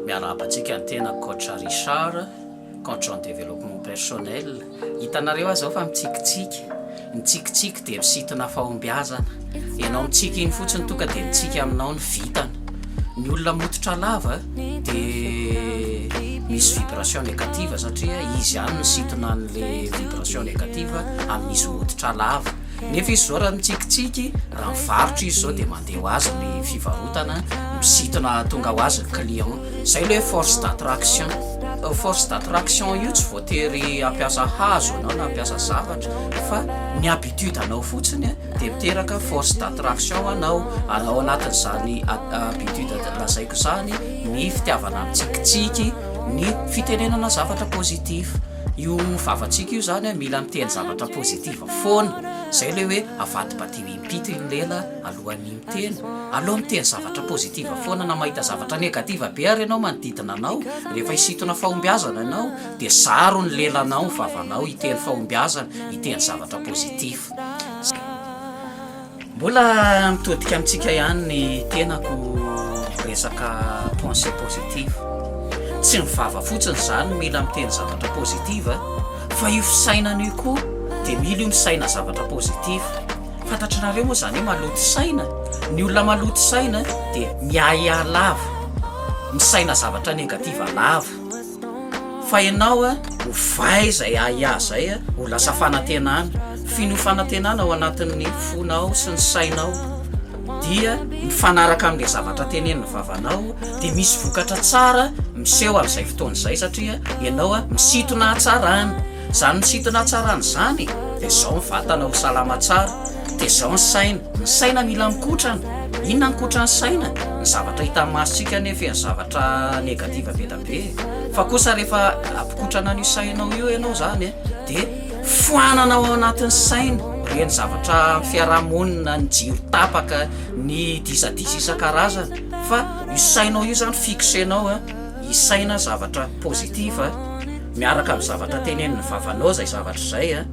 Miarahaba antsika ny tena Coach Richard, Coach en développement personnel. Hitanareo aza aho fa mitsikitsiky. Ny tsikitsiky dia misintona fahombiazana. Ianao mitsiky iny fotsiny tonga dia mitsiky aminao ny vintana. Ny olona mototra lava dia misy vibration négative satria izy ihany misintona an'ilay vibration négative amin'izy mototra lava. Nefa izy izao raha mitsikitsiky, raha mivarotra izy izao dia mandeha ho azy ny fivarotana, misintona tonga ho azy ny client. Izay ilay hoe force d'attraction. Io force d'attraction io tsy voatery hampiasa hazo ianao na hampiasa zavatra fa ny habitude anao fotsiny dia miteraka force d'attraction ho anao. Ary ao anatin'izany habitude lazaiko izany ny fitiavana mitsikitsiky, ny fitenenana zavatra positif. Io vavantsika io zany a mila miteny zavatra positive foana, zay le hoe avadibadiho impito iny lela alohan'ny miteny, aleo miteny zavatra positive foana na mahita zavatra negative be ary ianao manodidina anao, rehefa hisintona fahombiazana ianao de zaro ny lelanao, ny vavanao hiteny fahombiazana, hiteny zavatra positif. Mbola mitodika amintsika ihany ny tenako resaka pensée positive. Tsy ny vava fotsiny izany mila miteny zavatra positive fa io fisainana io koa dia mila io misaina zavatra positive. Fantatrareo moa izany hoe maloto saina? Ny olona maloto saina dia miahiahy lava, misaina zavatra negative lava. Fa ianao a, ho vay izay ahiahy izay a, ho lasa fanantenana. F'iny ho fanantenana ao anatin'ny fonao sy ny sainao dia mifanaraka amin'ilay zavatra tenenin'ny vavanao dia misy vokatra tsara miseho amin'izay fotoana izay satria ianao a, misintona hatsarana. Izany misintona hatsarana izany dia izao ny vatana ho salama tsara, dia izao ny saina. Ny saina mila mikotrana. Inona no mikotran'ny saina? Ny zavatra hitan'ny masontsika anie feno zavatra negatif be dia be. be fa kosa rehefa ampikotrana an'io sainao io ianao zany e de foanana ao anatin'ny saina reny zavatra fiarahamonina ny jiro tapaka ny disadisa isan-karazany fa io sainao io zany fixenao a i saina zavatra positif a miaraka amin'ny zavatra tenen'ny vavanao zay zavatra izay a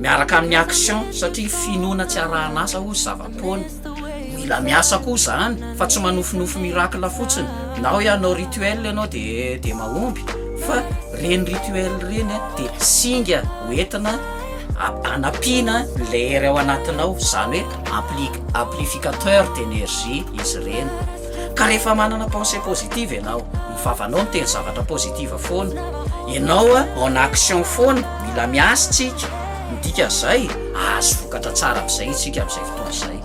miaraka amin'ny action satria finoana tsy arahan'asa ozy zava fotoana. Mila miasa koa izany fa tsy manofinofy miracle fotsiny na hoe hanao rituel ianao dia dia mahomby fa ireny rituel ireny dia singa hoentina hanampiana ilay hery ao anatinao izany hoe ampli amplificateur d'énergie izy ireny ka rehefa manana pensée positive ianao ny vavanao miteny zavatra positive foana ianao en action foana mila miasa isika Ny dikan'izay, hahazo vokatra tsara amin'izay isika amin'izay fotoana izay.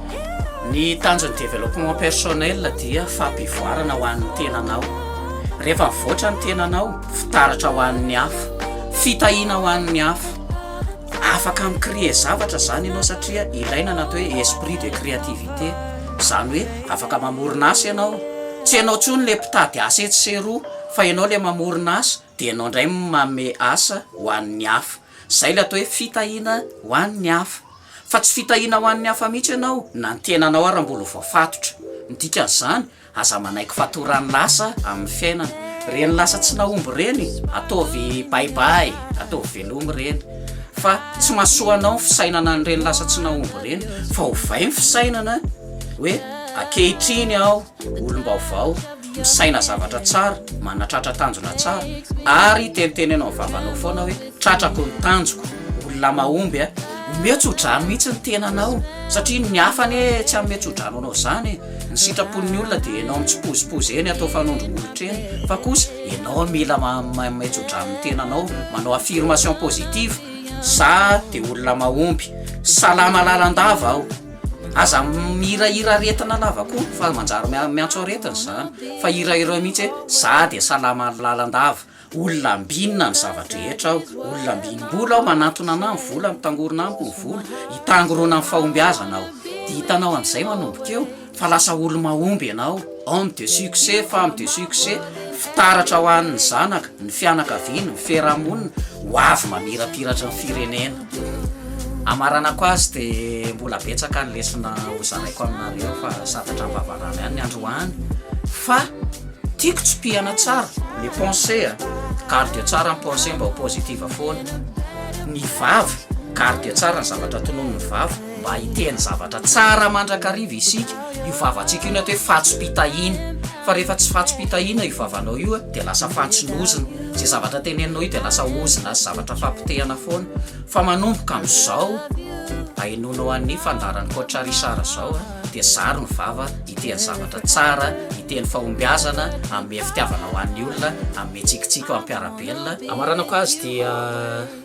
Ny tanjon'ny développement personnel dia fampivoarana ho an'ny tenanao. Rehefa mivoatra ny tenanao, fitaratra ho an'ny hafa, fitahiana ho an'ny hafa. Afaka mi-créer zavatra izany ianao satria ilaina ny atao hoe esprit de créativité. Izany hoe afaka mamorona asa ianao. Tsy ianao intsony ilay mpitady asa etsy sy eroa fa ianao ilay mamorona asa dia ianao indray manome asa ho an'ny hafa. Izay ilay atao hoe fitahiana ho an'ny hafa. Fa tsy fitahiana ho an'ny hafa mihitsy ianao na ny tenanao ary mbola ho voafatotra. Ny dikan'izany, aza manaiky fatoran'ny lasa amin'ny fiainana. Ireny lasa tsy nahomby ireny, ataovy bye bye, ataovy velomy ireny. Fa tsy mahasoa anao ny fisainana an'ireny lasa tsy nahomby ireny. Fa ovay ny fisainana hoe ankehitriny aho olom-baovao. misaina zavatra tsara, manatratra tanjona tsara, ary teniteneno amin'ny vavanao foana hoe, tratrako ny tanjoko, olona mahomby a! Omeo tsodrano mihitsy ny tenanao, satria ny hafa anie tsy hanome tsodrano anao izany e! Ny sitrapon'ny olona dia enao mitsipozipozy eny atao fanondro molotra eny, fa kosa enao mila manome tsodrano ny tenanao, manao affirmation positive, za dia olona mahomby, salama lalandava aho! Aza mihirahira aretina lava koa fa manjary miantso aretina izany fa hirahirao mihitsy hoe za dia salama lalandava, olona ambinina ny zava-drehetra aho, olona ambinim-bola aho, manantona anà ny vola, mitangorona amiko ny vola, hitangorona amin'ny fahombiazana aho. Dia hitanao an'izay manomboka eo fa lasa olo-mahomby ianao. Homme de succès, femme de succès, fitaratra ho an'ny zanaka, ny fianakaviana, ny fiarahamonina, ho avy mamirapiratra ny firenena. Hamaranako azy dia mbola betsaka ny lesona hozaraiko aminareo fa santatra am-bavarano ihany ny androany fa tiako tsipihana tsara ny pensée a. Garde tsara ny pensée mba ho positive foana. Ny vava, garde tsara ny zavatra tononon'ny vava. mba hiteny zavatra tsara mandrakariva isika, io vavantsika io na atao hoe fantsom-pitahiana, fa rehefa tsy fantsom-pitahiana io vavanao io dia lasa fantson'ozona, izay zavatra teneninao io dia lasa ozona sy zavatra fampotehana foana, fa manomboka amin'izao ahenoanao an'ny fandaharan'i Coach Richard izao dia zaro ny vava hiteny zavatra tsara, hiteny fahombiazana, hanome fitiavana ho an'ny olona, hanome tsikitsiky ho an'ny mpiara-belona. Hamaranako azy dia.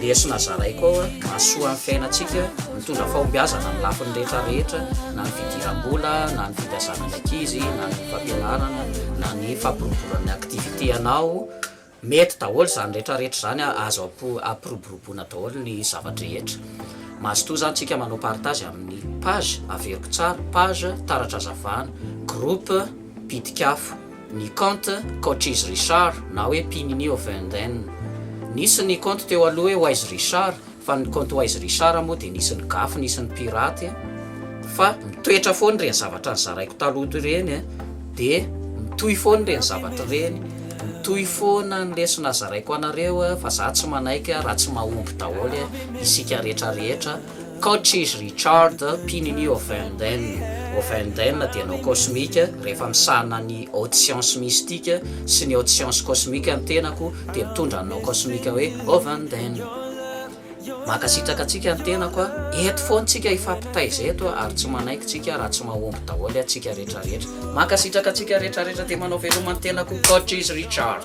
Lesona zaraiko ao an, mahasoa ny fiainantsika, mitondra fahombiazana amin'ny lafiny rehetra rehetra, na ny fidiram-bola, na ny fimpiasana ny ankizy, na ny fampianarana, na ny fampiroboroana ny activité anao, mety daholo izany rehetra rehetra izany an, azo ampiroboroboana daholo ny zava-drehetra. Mazotoa izany tsika manao partage amin'ny page, averiko tsara, page, taratra hazavana, groupe, pitik'afo. ny kaonty Coaches Richard na hoe Mpinini of Eden. Nisy ny kaonty teo aloha hoe Wise Richard fa ny kaonty Wise Richard moa dia nisy ny gafy nisy ny piraty fa mitoetra foana ireny zavatra nizaraiko taloha ireny dia mitohy foana ireny zavatra ireny mitohy foana ny lesona zaraiko anareo fa za tsy manaiky raha tsy mahomby daholo isika rehetra rehetra Coach izy Richard mpino ny Oefenden. Oefenden dia anao kosmika, rehefa misahana ny haute science mystique sy ny haute science kosmika ny tenako dia mitondra anao kosmika hoe Oefenden. Mankasitraka antsika ny tenako a! Eto foana tsika hifampitaiza eto ary tsy manaiky tsika raha tsy mahomby daholo atsika retraretra. Mankasitraka antsika retraretra dia manao veloma ny tenako Coach izy Richard.